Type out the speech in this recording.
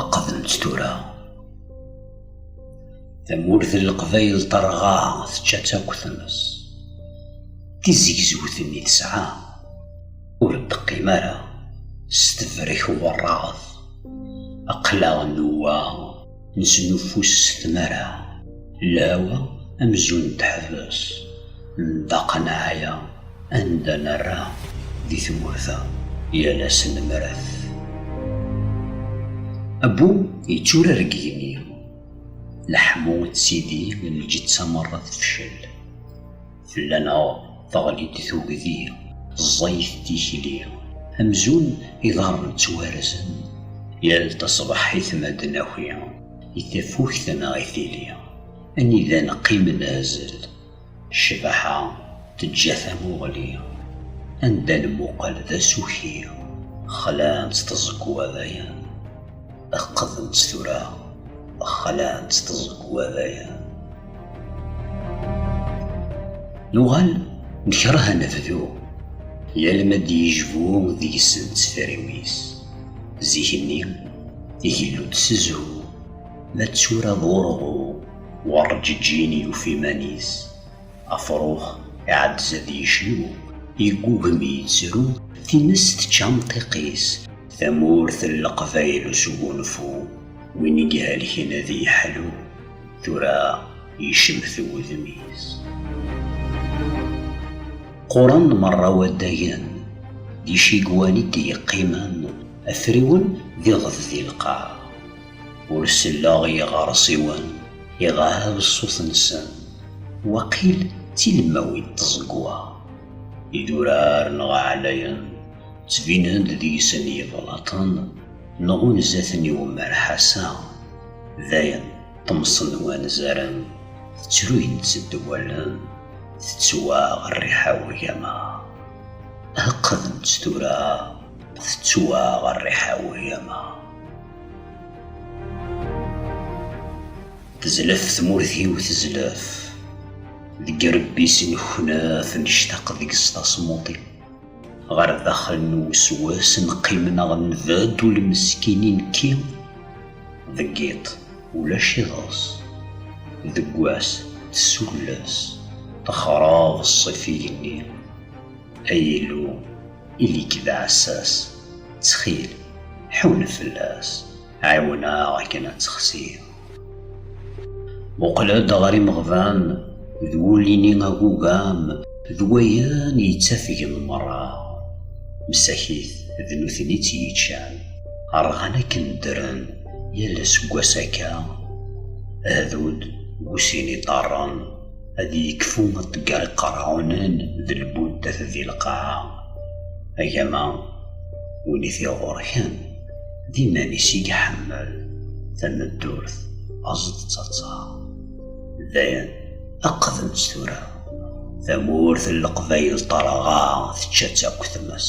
Aqedent tura tamurt n leqbayel terɣa tečča akk tmes tizegzewt-nni tesɛa ur d-teqqim ara s tebrek werraɣet aqlaɣ newwa Nesnuffus s tmara, lhawa amzun teḥbes, nṭaq neɛya anda nerra di tmurt-a yal ass nemret. Abbu yetturar deg igenni, leḥmu d tidi n lǧetta merra tefcel. Fell-aneɣ teɣli-d tugdi, ẓẓayet tikli, amzun iḍarren ttwarzen, yal taṣebḥit ma d-naki i tafukt neɣ i tili, anida neqqim nehzel, ccbaḥa teǧǧa tamuɣli, anda nmuqel d asuki, xlan-tt tẓegwa dayen. Qqedent tura, xalɛent tẓegwa-baya. Nuɣal nekreh ad nebdu, yal ma d-yejbu deg-sent tferriwit. Zik-nni, igellu-d s zhu, ma d tura d urɣu, werǧeǧǧin yufi iman-is. Afrux iɛeddez ad yecnu, yeggugem yettru, times tečča amṭiq-is. Tamurt n leqbayel usgunfu, win i ihelken ad yeḥlu, tura yecmet wudem-is. Qquren merra waddagen, d icigwan i d-yeqqimen, afriwen d iɣed di lqaɛ. Ur selleɣ i yiɣersiwen iɣab ṣṣut-nsen, waqil d tilemmawin n tẓegwa. Idurar neɣ aɛlayen ttbinen-d deg-sen yiblaṭen nɣunza-ten i umerḥas-a. Dayen ṭṭemsen wanzaren, ttruyen-tt-ed wallen, tettwaɣ rriḥa urgama. Heqqden-tt tura, tettwaɣ rriḥa urgama. Tezlef tmurt-iw tezlef Deg rebbi s neknaf Nectaq deg s tasmuṭi Ɣer daxel n uswas Neqqim neɣ nbad Ul meskin i nekki Deg iḍ ulac iḍes Deg wass tessulles Texraḍ ṣṣif igenni Ay Illu Ili-k d aɛessas, ttxil, ḥunn fell-as, ɛiwen-aɣ akken ad texsi. Muqel-d ɣer imeɣban, d wulli-nni agugam, d wayen yettafgen merra. Msakit, d nutni i tt-yeččan. Rɣan akken ddren, yal aseggas akka, ahdud bu sin iḍarren. ad yekfu aṭeggar iqerɛunen d lbuddat di lqaɛa agama win i t-iɣurken d iman-is i iḥemmel tameddurt aẓet d taẓa dayen aqdemt tura tamurt n leqbayel ṭerɣa tečča-tt akk tmes